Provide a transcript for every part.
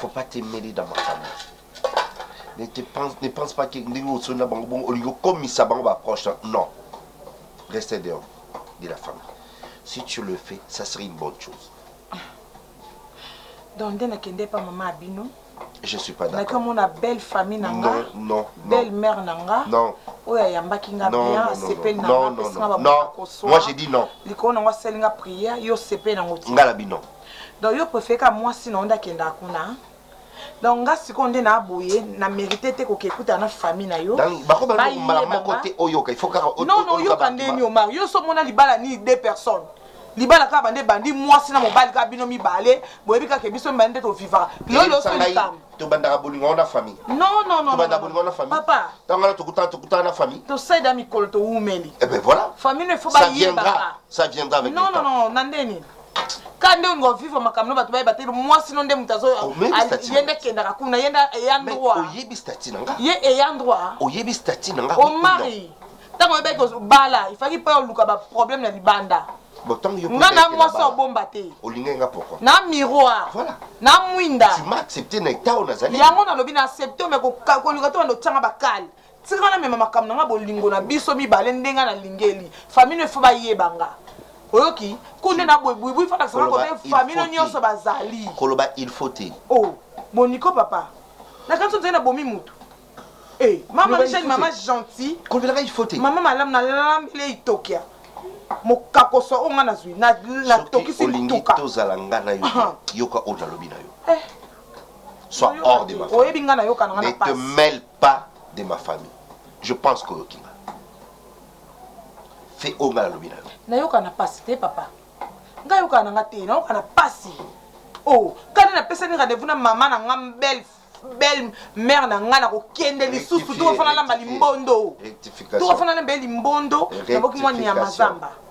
faut pas te mêler dans makambo ne te pense ne pense pas que ndenge osoni na bango bongo olingi okomisa bango ba proche non reste dehors de la famille si tu le fais ça serait une bonne chose donc nde nakende pa mama ya bino je suis pas d'accord nakomona belle famille na nga non belle mère na nga non oyo ayambaki nga bien asepeli na nga apesi nga bakoso moi j'ai dit non likolo na ngo asali nga prière yo osepeli na ngo ti nga na bino Donc yo prefere kaka muasi na yo nde akendaka kuna donc nga sikoyo nde na boye na merite te koke kutana na famille na yo non non oyoka nde ni omar yo so mona libala ni deux personnes libala kaka bande bandi mwasi na mobali kaka bino mibale boyebi kaka ke biso mibale nde tovivaka lolo so likambo tobandaka bolingo wana famille non non non tobandaka bolingo wana famille papa tango wana tokutana tokutana na famille tosaida mikolo towumeli eh ben voilà famille ne faut bayebaka ça viendra avec non non non na ndeni ka nde olinga ovivre makambo no bato bayeba te mwasi no nde moto azoye nde kendaka kuna ye nde eya droit ye eya droit oyebi stati na nga omari ntango oyebaki kozobala ifaki mpe oluka baproblème na libanda nga na mwasi obomba te na miroir na mwinda yango nalobi na accepte me koluka te banda otyanga bakale Tika na mema makambo na nga bolingo na biso mibale nde nga na lingeli famille no il faut ba yeba nga oyoki ku nde na boye buibui fa lakisa nga kote famille no nionso ba zali koloba il faut te oh boniko papa na kanso nzali na bomi mutu eh mama Michel mama gentil koloba nga il faut te mama malam na lambele itokia mokakoso oyo nga nazwi na na tokisi mutuka tozala nga na yo yoka oyo nalobi na yo eh. sois hors de ma famille oyebi nga na yoka na nga na passe ne te mêle pas de ma famille je pense que oyoki nga fe oyo nga nalobi na yo nayoka na pasi te papa nga yoka na nga te nayoka na pasi o oh, kani napesani rendez-vous na mama na nga belle belle mère na nga nakokende lisusu tokofana lamba limbondo tokofana lamba ye limbondo naboki mwa nyama zamba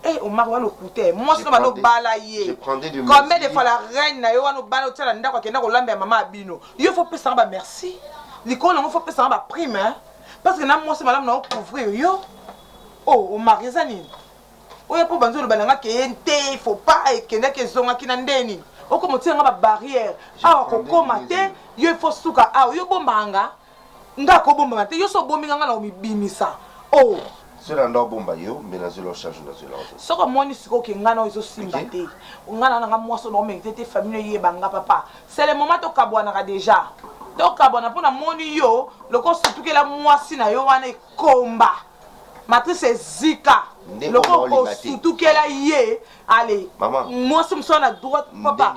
Eh, Omar wana okute mwasi no bana obala ye combien de fois la reine na yo wana obala otiala ndako akenda kolamba ya mama ya bino Yo faut pesa nga ba merci. Likolo nango faut pesa nga ba prime hein. Parce que na mwasi malamu nao couvrir yo. Oh, o marie eza nini? Oya po banzo loba nanga ke ente faut pas ekenda ke zonga kina ndeni. Oko motia nga ba barrière. Awa ko koma te. Yo faut suka awa. Yo bomba nga. Nga ko bombama te yo so obomi nga nga nako mibimisa oh. Zela nda obomba yo mbe na zela ochange nda zela ozo. Soki omoni sikoyo ke nga na yo ezo simba te nga na nga mwasi nao merite te famille no eyeba nga papa c'est le moment tokabuanaka dejà tokabuana po na moni yo lokola osutukela mwasi na yo wana ekomba matrice ezika lokola osutukela ye ale mwasi mosusu wana droite papa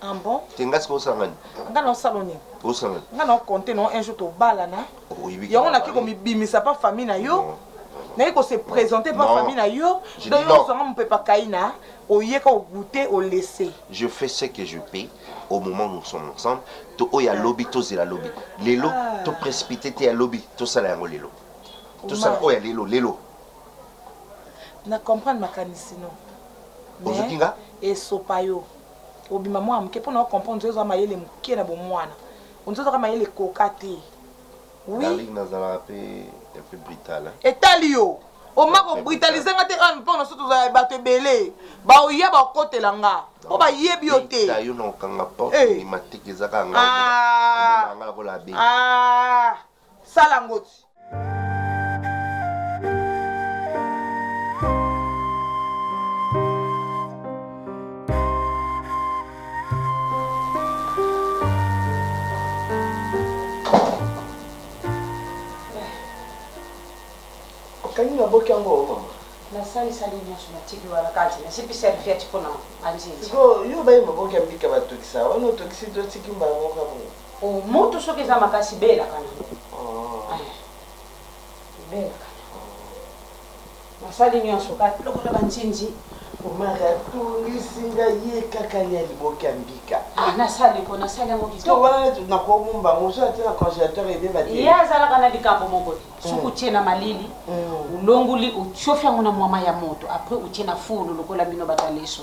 Ah bon? Te nga sikoyo osala ngai nini? Nga na osala yo nini? Osala ngai nini? Nga na compter na yo un jour tobalana. Oyebi que. Yango na ki ko mi bimisa pa famille na yo. Non. Na ki ko se presenter pa famille na yo. Je dis non. Donc yo ozua nga mupepa kaina, oye ka o gouter, o laisser. Je fais ce que je peux au moment nous sommes ensemble. To oyo ya lobi tozela lobi. Lelo to precipiter te ya lobi tosala yango lelo. Tosala oyo ya lelo lelo. Na comprendre makanisi no mais esopa yo obima mua muke po na o comprendre ozo zwa mayele muke na bomuana ozo zwa ka mayele ekoka te oui Darling nazalaka pe un peu brutal hein etali yo oma ko brutaliser nga te heure po na biso tozala batu ebele ba oya ba okotela nga po ba yebi yo te Beta yo na okanga porte obima te eza kaka nga ozo mona nga lokola abeli ah Sala ngoti. Kani na boki yango o mama? Na sali sali nyonso na tiki wana kati na sipi serviette mpo na anzinzi. Siko yo bayi maboki ya mbika batokisa wana otokisi to tiki mbala moko ya boye. Oh mutu soki eza makasi belaka nango oh. eh, belaka nango nasali nyonso kaka lokola banzinzi omaka tungisi nga ye kaka ya liboki ya mbika ah, nasali mpo nasali yango kitoko wana nakomomba yango ozo ate na congélateur ebeba te ye azalaka na likambo moko te mm. soki otie na malili mm. olongoli otiofi yango na mwama ya moto apres otie na fulu lokola bino bataleso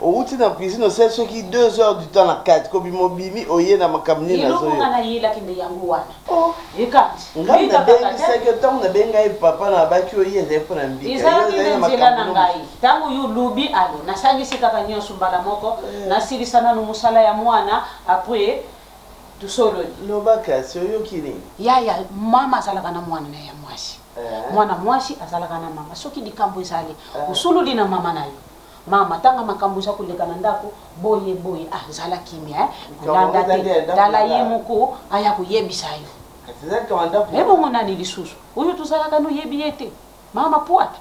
Owuti na cuisine osali soki deux heures du temps na kati ko bima obimi oye na makambo nini nazo Eloko nga na yelaki nde yango wana. Oh! Ekant. Ngai na bengisaki yo tango na benga ye papa na babaki oye ezali pona mbika yo Ezalaki ozali nde na nzela makambo na nini ngai. mosusu. Tango yo olobi allez na sangisi kaka nionso mbala moko na silisa nanu musala ya muana apres to sololi. Loba kasi oyoki nini? Yaya, mama azalaka na muana naye ya muasi. Eh. Muana muasi azalaka na mama. Soki likambo ezali, Eh. osololi na mama na yo. Mama tanga makambu oza koleka na ndaku boye boye ah zala kimia eh kolanda te tala ye moko aya koyebisa yo ebongo nani lisusu oyo tozalaka no yebi ye te mama puata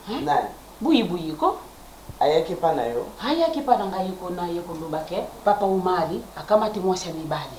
eh? buyi buyi ko ayaki epa na yo ayaki epa na ngai ko na ye koloba ke papa omari akamati mwasi ya mibali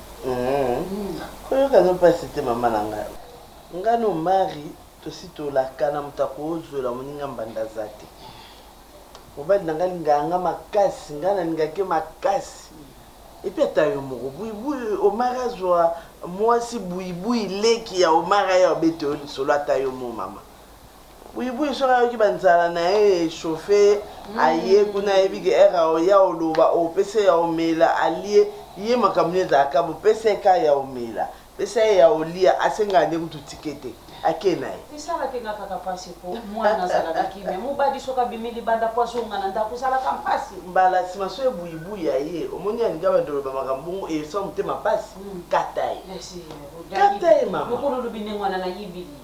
Koyoka no pasi te mama na nga. Nga no Mari tosi tolakana moto akozwela moninga mbanda aza te. Mobali na nga alingaka nga makasi, nga nalingaka ye makasi. Epuis ata yo moko buibui Omari azwa muasi buibui leki ya Omari aya obeta yo lisolo ata yo moko mama. Buyibuyi soki ayoki ba nzala naye e chauffe ye aye kuna ayebi ke heure ako ya oloba opesa ya omela alie ye makambo nini ezalaka bo pesa ye ka ya omela pesa ye ya olia asengaka nde kutu ticket te ake naye. Esalaki nga kaka pasi po muana azalaka kimia mubadi soki abimi libanda po azonga na ndaku ezalaka pasi. Mbala sima soki buyibuyi aye omoni alingi abanda oloba makambo bongo esa yo motema pasi kata ye kata ye mama. Mukulu olobi ndenge wana na yebili.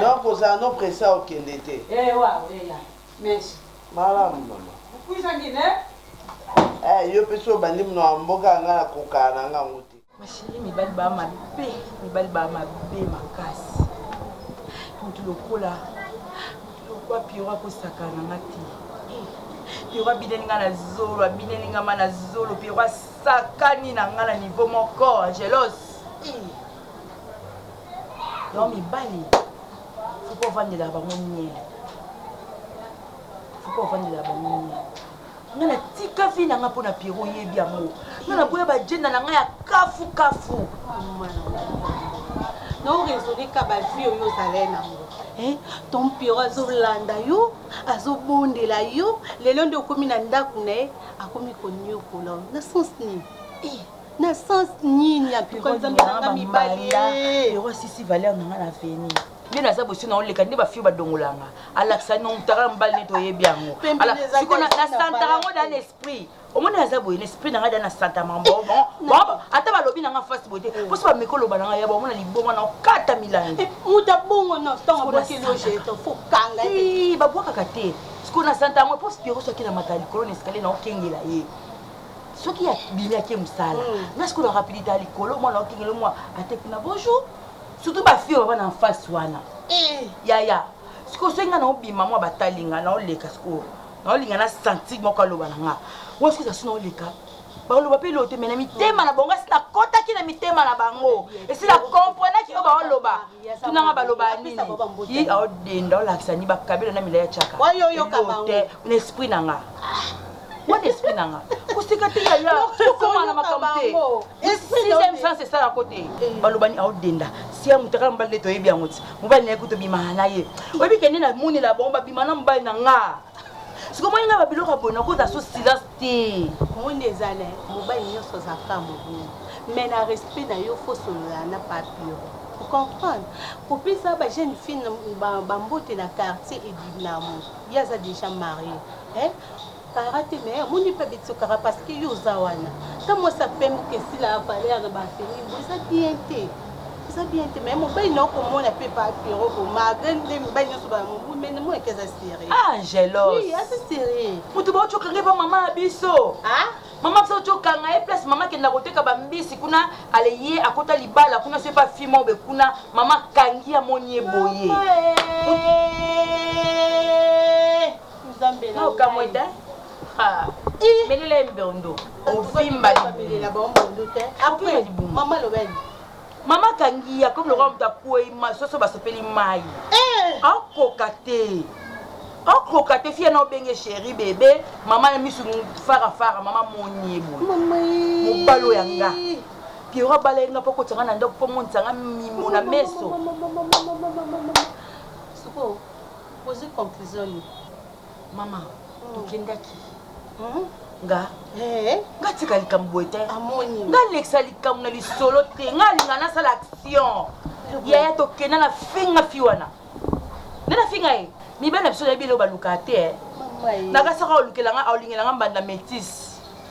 Donc ozala no pressa okende te. Eeh waouh eya merci. Malamu maman. Puisa ngine. Eh yo pe soki obandi munoko ya mboka nga na kokana na nga yango te. Ma cherie mibali ba mabe mibali ba mabe makasi mutu lokola mutu lokola pierrot ako sakana na nga te eh pierrot abineli nga na zolo abineli nga ma na zolo pierrot asakani na nga na niveau moko angelos eh donc mibali faut ko vandela bango nien faut ko vandela bango nien nga na tika vie na nga mpo na pierrot oyebi yango nga na boya bagenda na nga ya kafu kafu naoresone ka bavie oyo ozalai nango eh, ton pierrot azolanda yo azobondela yo lelo nde okomi na ndako na ye akomi koniokola na sens nini eh, na sens nini ya tuka nzambe na nga mibali ero asisi valeur na nga na veni nde naza bosi na oleka nde bafio badongolanga alakisa nomutaka mobali neti oyebi yango siko nasantaka yango da na esprit omoni aza boye na esprit na ngai da na santama ata balobi na nga fasi boye te mposo bameki oloba na ngai ya bamona liboma na okata milangi eh, moto abongo na ntango abwakelojefokanga babwakaka te siko na santa yango mpo spiro soki na mata likolo na eskalier na okengela ye soki ya bimi ake mosala nga sikoyo na rapidité ya likolo mwana okengele mwa ate kuna bonjour surtout bafio baba na enfance wana yaya sikoyo soki nga naobima mwa batali nga naoleka sikoyo naolinga na sentir moko aloba na nga wa sikoyo zasi naoleka baloba mpe lote me na mitema na bango asi nakotaki na mitema na bango esi na komprenaki oyo baoloba tunanga baloba nini aodenda olakisa ni bakabelo na milai ya caka na esprit na nga What esprit na nga koseka te yaya tokoma na makambo te sixième sens esala ko te eh. balobani aodenda sia mutakala mobali nde toyebi yango ti mobali naye kutu obimana na ye oyebi kende na monela bango babima na mobali na nga sikomoni nga babiloko ya boye nakoza so silence te omoni ezala mobali nyonso aza ka mobulu mais na respect na yo fosolola na papio comprendre kopesa ba jeune fille bambote na quartier edinamo ye aza déjà marie Kara te mais omoni pe betio kara parce que yo oza wana ta mwasi ya pembe okesi na valeur na ba femi bo eza bien te eza bien te mais mobali na okomona pe pa pero ko malgré nde mibali nyonso ba mobu mais na mona ke eza sérieux ah jealous oui eza sérieux mutu ba ochoka ngai pa maman ya biso ah mama biso tokanga ye place mama akenda koteka bambisi kuna ale ye akota libala kuna so epa fi mobe kuna mama akangi amoni ye boye No kamwe te haa belela ye mbiondoo ovimba libundu ovimba libundu mama akangi ye akomi lokola moto akwei soso basopeli mai eh! akoka te akoka te fiya na obenge sheri bebe mama na misu farafara mama moni ye boye mobalo ya nga piero abala ye nga mpo akotisa nga na ndako mpo amonisa nga mimo na meso Ozui conclusion yo maman tokendaki hum nga eh. nga tika likambo boye te amoni nga lekisa likambo na lisolo te nga alinga nasala action yaya tokenda na finga fi wana nde na finga ye mibali na biso nayebi eleo balukaka te eh. nakasaka olukela nga olingela nga mbanda metise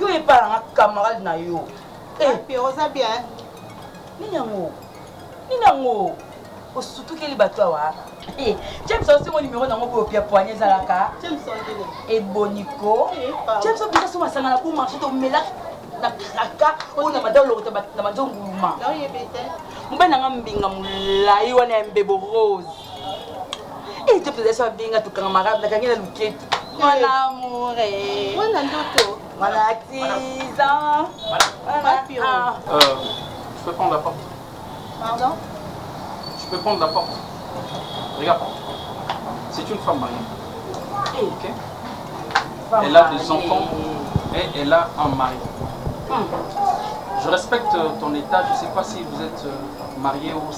Yo epa na nga camarade na yo. Eh. Ah, Pierre oza bien. Nini yango? Nini yango? Osutukeli bato awa. Eh, James osi mo numéro nango boyo pia poignet ezalaka. James ondele. Eboniko. Eh, James opesa so masanga na bo marché to mela na kraka oyo na madao lokota na manzo nguluma. Na oyebete. Mobali na nga mbinga molai wana ya mbebo rose. Eh, nzoto eza so abenga tokangamaka nakangi na luketu mon amour eh. mwana ndoto mwana tiza ah. euh, je peux prendre la porte pardon je peux prendre la porte regarde c'est une femme mariée eh. ok elle a des enfants et elle a un mari hmm. je respecte ton état je sais pas si vous êtes euh, marié ou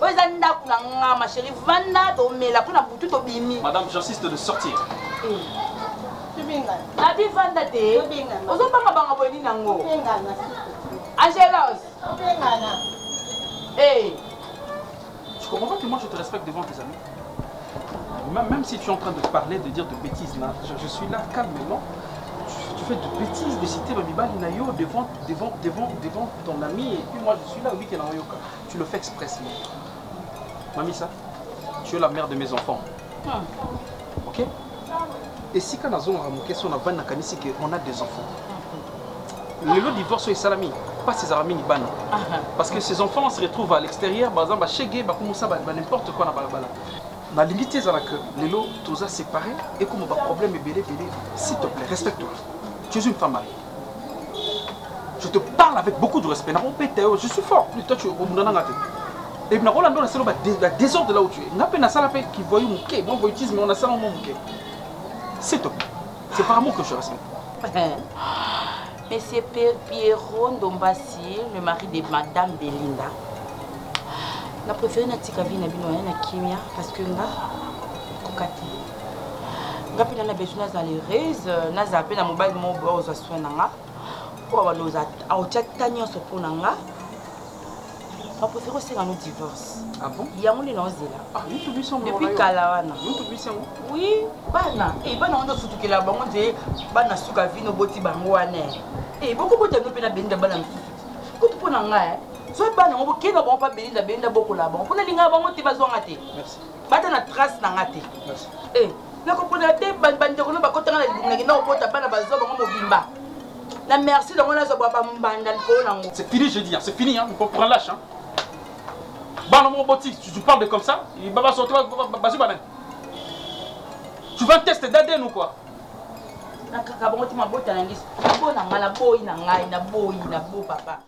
Oyo eza ndaku na nga ma chérie vanda tomela mpo na butu tobimi. Madame j'insiste de sortir. Abi vanda te ozobanga banga boye nini yango Angelos hey. Tu comprends pas que moi je te respecte devant tes amis même si tu es en train de parler, de dire de bêtises, là, je, je suis là calmement, tu, tu, fais de bêtises, de citer Babibali Nayo devant, devant, devant, devant ton ami, et puis moi je suis là, oui, qu'elle en yoka. Tu le fais expressement. Mamisa, tu es la mère de mes enfants. Hmm. Ok esika nazongaka moke so navandi nakanisi ke on a des enfants hmm. lelo divorce oyo esalami mpasi ezalaka mingi bana ah, ah. parce que ces enfants se retrouvent à l'extérieur baza bashege bakomosa ba n'importe quoi na balabala nalingi te ezala que lelo toza séparé ekoma baproblème ebele ebele s'il te plaît respecte toi tu es une femme mariée Je te parle avec beaucoup de respect. Nako peta yo, je suis fort. Plus toi tu es au munananga te. Et nako lando na selo ba la désordre là où tu es. Nga pe na sala pe qui voyou muke, bon voyoutisme mais on a sala mon muke. C'est toi. C'est par amour que je respecte. Monsieur Pierrot Ndombasi, le mari de Madame Belinda. Na préféré na tika vie na bino na kimia parce que nga kokati. nga mpe nana besoin nazala heureuse nazala mpe na mobali moko boya kozwa soin na nga oyo abanda otya ta nyonso mpo na nga bapréféré osenga no divorce ah yango nde naozela ah, depuis kala wana oui bana e bana wana osutukela bango nde bana suka vino oboti bango wana e eh, bokobota no mpe na benda bana mosusu kutu mpo na ngai eh. zwa bana yango bokenda bango mpa belinda belinda bokola bango mpo nalingaka bango te bazwanga te bata na trace na nga te eh, nakopona te bandeko no bakotanga na libumu na kenda kokota bana bazwa bango mobimba na merci nango nazwa bwa bambanda likolo na yango c'est fini je dis c'est fini hein, on prend lâche hein. bana moko boti tu parles de comme ça babasoto bazwi banani tu vas tester d'ADN ou quoi nakaka bango te mabota na ngai mpo na ngai naboyi na ngai naboyi na bo papa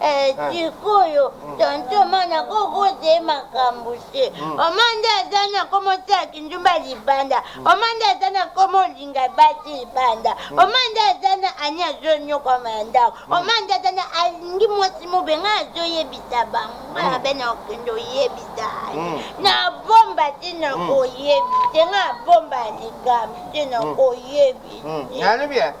Eh, ah. sikoyo mm. tonto mana kokoze makambo se mm. oma nde aza na komo sala kindumba libanda mm. oma nde aza na komo olinga basi libanda oma nde aza na ani azonyokwama ya ndako oma nde aza na alingi mwasi mobe ngai azoyebisa bango ngai abe na okende oyebisa ani na bomba te na koyebi te ngai abomba likambo te na koyebi te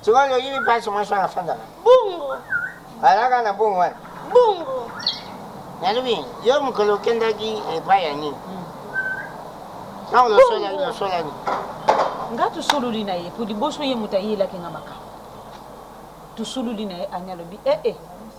Sikoyo nde oyebi place mwasi wana afandaka? Bongo. Alaka na bongo wana? Bongo. Nalobi, yo mokolo okendaki epai ya nini? Hmm. Ntango losolaki losolani? Nga tosololi na ye, po liboso ye moto ayelaki nga makambo. Tosololi na ye, Anya alobi, ee, eh, eh,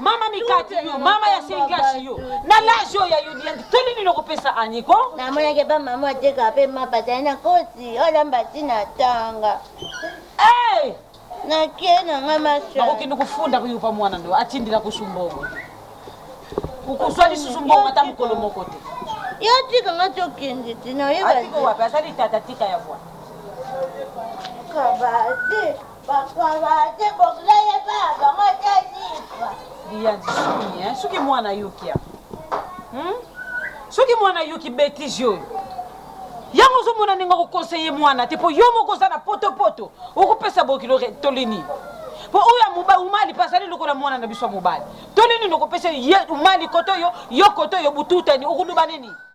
Mama mikati yo, mama ya sengashi yo. Na l'âge oyo ya yodi ya toli nini okopesa Annie ko? Na mona ke ba mama ateka pe mapa tani na kosi, ola mbati na tanga. Eh! Na ke na nga masha. Bako kende kufunda kuyo pa mwana ndo atindila kusumbongo. Kukuswa lisusu mbongo ata mukolo moko te. Yo tika nga tokende te na yeba. Atiko wapi? Asali tata tika ya bwa. Kabate. soki mwana yoki hmm? soki mwana yoki betise oyo yango ozomona ndenge okokonseye mwana te mpo yo moko oza na potopoto okopesa bokilo tolini mpo oyo ya mobali umali mpe azali lokola mwana na biso ya mobali tolini nokopesa ye umali koto yo yo koto yo bututani okoloba nini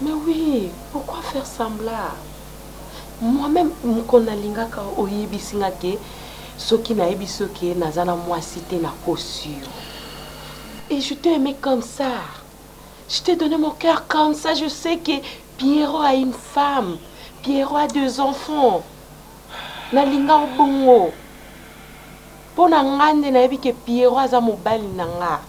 Mais oui pourquoi faire sembla moi meme mokolo na lingaka oyebisi nga ke soki na yebisi yo ke naza na mwasi te na kosi yo et je t'ai aime comme ça je t'ai donne mon cœur comme ça je sais ke Pierrot a une femme Pierrot a deux enfants na linga yo bongo pona nga nde na yebi ke Pierrot aza mobali na nga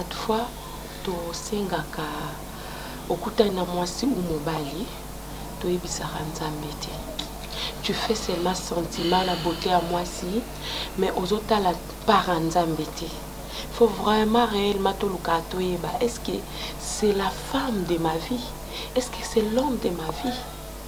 Adfa tosengaka okutani na mwasi ou mobali toyebisaka nzambe te tu fais seulement sentiment na beaute ya mwasi mais ozo tala part ya nzambe te faut vraiment reellement tolukaka toyeba est ce que c'est la femme de ma vie est ce que c'est l'homme de ma vie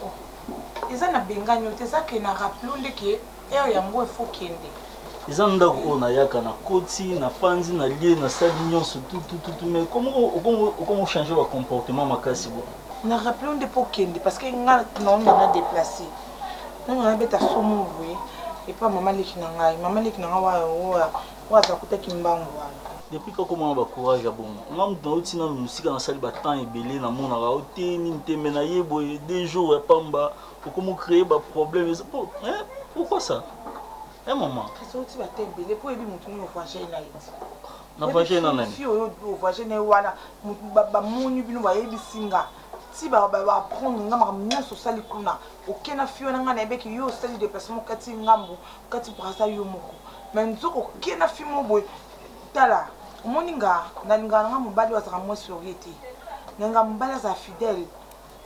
Bon eza na bengani yo te eza ke na rappele yo nde ke heure yango il faut kende. Eza ndaku oyo na yaka na koti na fandi na lie na sali nionso tout tout tout mais comme okomi ko changer ba comportement makasi boye. Na rappele yo nde mpo okende parce que nga na onda na deplacer na onda na beta somo boye epa mama leki na ngai mama leki na ngai oyo ya oyo aza kuta kimbangu wana. Depuis kaka omama ba courage ya bongo nga mutu nauti nanu musika nasali ba temps ebele namonaka yo te nini te mais naye boye deux jours ya pamba okomi ocree ba problème eza po hein pourquoi ça hein maman kasi outi ba temps ebele po oyebi mutu nini ovoyage na ye ti navoyage na nani fi oyo ovoyage na ye wana bamoni bino bayebisi nga ti baapprendre nga makambo nyonso osali kuna oke na fi wana nga nayebeki yo osali deplacement okati ngambo Kati brasa yo moko na nzoka oke na fille moko boye tala omoni nga na lingaka na nga mobali oyo azalaka mwasi lorie te na lingaka mobali azala fidèle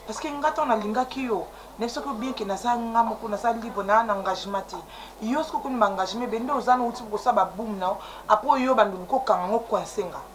parce que nga tango na lingaki yo na yebisaki yo bien que naza nga moko naza libre na na engagement te yo soki okoni ba engagement ebele nde oza na outi kosala ba boum na yo après oyo banda oluki okanga ngo coince nga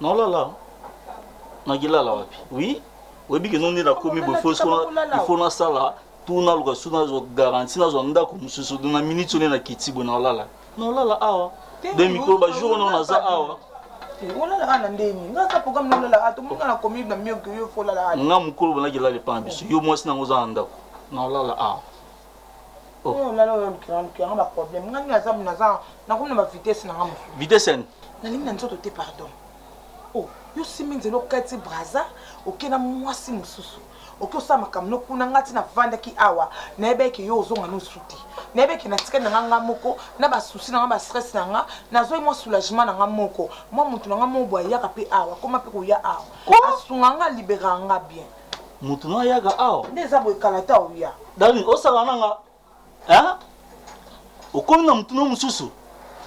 nalala nakilala wapi oui oyebi ke nonde nakomi boye ifo nasala tu naluka su nazwa garanti nazwa ndako mosusu na miniti one nakiti boye nalala nalala awa de mikolo bajour ono naza awa olala ana ndenge nga ata programme na olala ata omonga na komi na mioki yo fo olala ana nga mokolo bonaki elala epa na biso yo mwasi nango oza na ndako na olala awa Oyo lala oyo lukela lukela nga ba problème nga nina zabu naza nakomi na ba vitesse na nga musu vitesse yani nalingi na nzoto te pardon oh yo simbi nzela okati braza oke na mwasi mosusu oke osala makambo no kuna nga ti navandaki awa nayebaki ke yo ozonga nosu te nayebaki ke natikali na nga nga moko na basusi na nga bastress na nga nazwaki mwa soulagement na nga moko mwa motu na nga moko boye ayaka mpe awa akoma mpe koya awa asunga nga alibera nga bien mutu no ayaka awa nde eza boye kala ta oya dani osaka na nga hein okomi na mutu no mosusu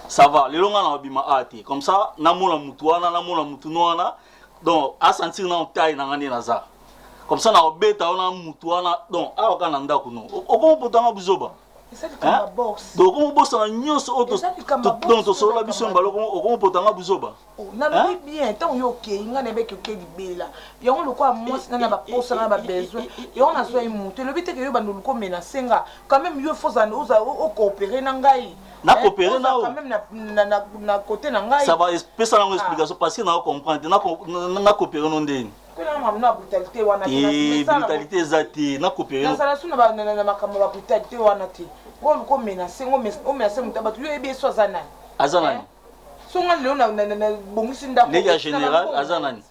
ça va lelo nga na babima a te comme ça namona mutu wana namona mutu no wana donc asentir na otai na nga nde naza comme ça na obeta wana mutu wana donc awa ka na ndako no okomopotanga buzoba Hein? Donc okomi obosana nyonso oyo donc tosolola biso ya mbala okomi opota nga buzoba oh, nalobi hein? bien ntango yo okei ngai nayebaki okei libela yango lokola mwasi ngai na baposa ngai na babesoin yango nazwa ye moto elobi teke yo bando oluki omenase nga quand même yo fo ozala okoopere na ngai na hein? coopere na quand même na cote na ngai ça va pesa nango explication parce que na comprendre te na coopere no ndeni Kuna mamu na brutalite wana te. Eh, brutalite eza te. Na coopere. Na sala suna ba na na makambo ba brutalite wana te. Ko ko menacer, ngo menacer, o menacer mutu abatu yo yebi eso aza nani? Aza nani? Eh? So nga lelo na na na bongisi ndako. Ndege ya general aza nani?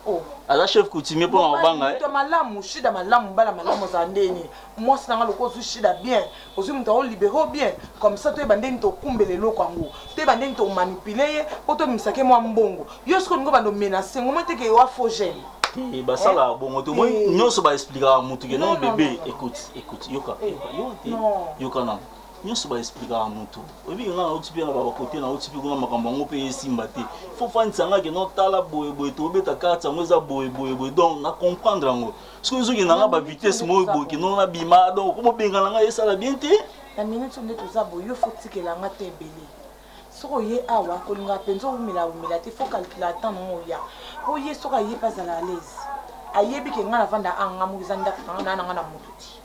Oh. aza chef coutumier mpo na kobanga eh? malamu shida malamu mbala malamu azala ndeni mwasi na nga lokola ozwi shida bien Ozui mutu yango libere yo bien comme ça toyeba ndenge nini tokumbela eloko yango toyeba ndenge nini to manipule ye po tobimisa ke mua mbongo yo sikoyo olingi obanda omenase ngo omoni te ke oa faux gene te basalaka bongo te omoni Eh. nyonso ba explikaka mutu ke Non, non non, bebe non, non. écoute écoute yoka Eh. yoka yoka te Non. yoka nanu nyonso ba explikaka mutu oyebi ke nga nauti mpe na ba kote nauti mpe kuna makambo yango mpe esimba te fo ofandisa nga ke non tala boye boye tobeta carte yango eza boye boye boye donc na comprendre yango soki ezokenda nga ba vitesse moko boye kino na bima donc komobengana ngai esala bien te na minute nde toza boye yo fotikela nga te ebele soki oye awa kolingaka mpenza owumela wumela te fo calcula temps nango oya mpo ye soki aye mpe azala alaise ayebi ke ngai navanda anga moki eza ndako nanga naa nanga na moto ti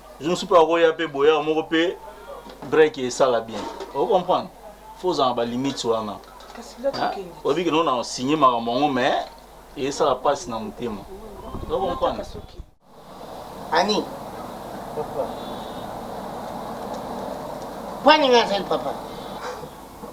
Jour mosusu mpe bakoya mpe boyaka moko mpe break esala bien o comprendre fo ozala na balimite wana oyebi kende ona osigne makambo yango mais esala mpasi na motema o comprendre ani bwaninga azali papa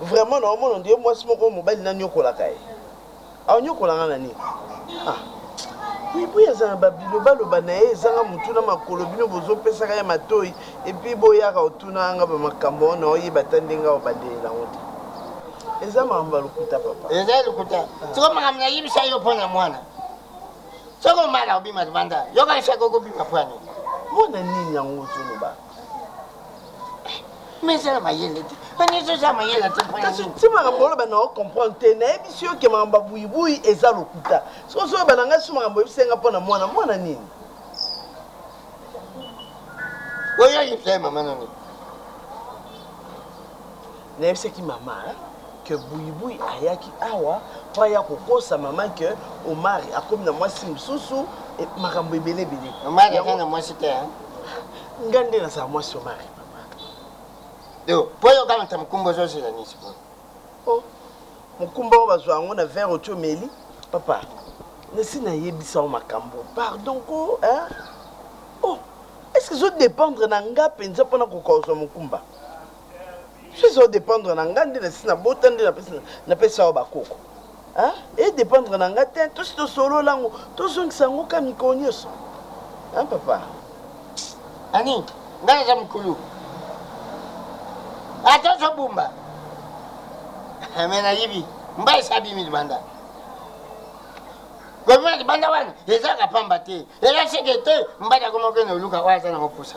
Vraiment na omona ondire mwasi moko oyo mobali na niokolaka ye aniokola nga na nini ah buibui aza na ba biloba loba na ye ezanga mutu na makolo bino bozo pesaka ye matoyi epuis boyaka otuna nga ba makambo wana na oyeba ata ndenge awa bandeli na ngo te eza makambo ya lokuta papa eza ya lokuta siko makambo na yebisa yo mpo na mwana soko mala obima libanda yoka esaka okobima pwani mwana nini yango ozoloba mais eza na mayele te banisi oza mayele ata kasi ntimaka boloba na ocomprendre te nayebisi yo ke makambo ya buibui eza lokuta soki ozoyeba na ngai so makambo oyebisi ngai mpo na mwana mwana nini oyo ayebisa ye mama na nini Nayebisaki mama que buyibuyi ayaki awa po aya kokosa mama que Omari akomi na mwasi mosusu makambo ebele ebele. Omari aza na mwasi te hein? Nga nde nazala mwasi ya Omari papa. Yo po yo okamata mokumba ozo zela nini sikoyo? Oh mokumba oyo bazua yango na verre otie omeli? Papa nasi nayebisa yo makambo pardon ko hein? Oh est ce que ezo dependre na nga penza po nakoka kozua mokumba? Soki eza o dependre na nga nde nasi na bota nde na pesa yo ba koko. Hein? E dependre na nga te, tosi to solola ngo, to zongisa yango ka mikolo nioso. Hein papa? Annie, nga naza mukulu. Ata zo bumba. Mais na yibi, mba esa bimi libanda. Gomina libanda wana, eza ka pamba te. Ela seke te, mba na gomokene oluka, oya za na mopusa.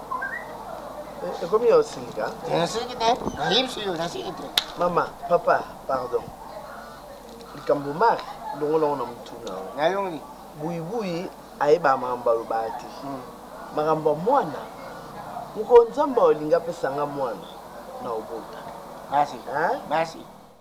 ekomi ya osilika nasiki te nayebisi yo nasiki te mama papa pardon likambo mari longola ngo na motuna nayongi buibui ayebaka makambo alobaka te hmm. makambo ya mwana mokolo nzambe olingi apesa nga mwana na obota merci merci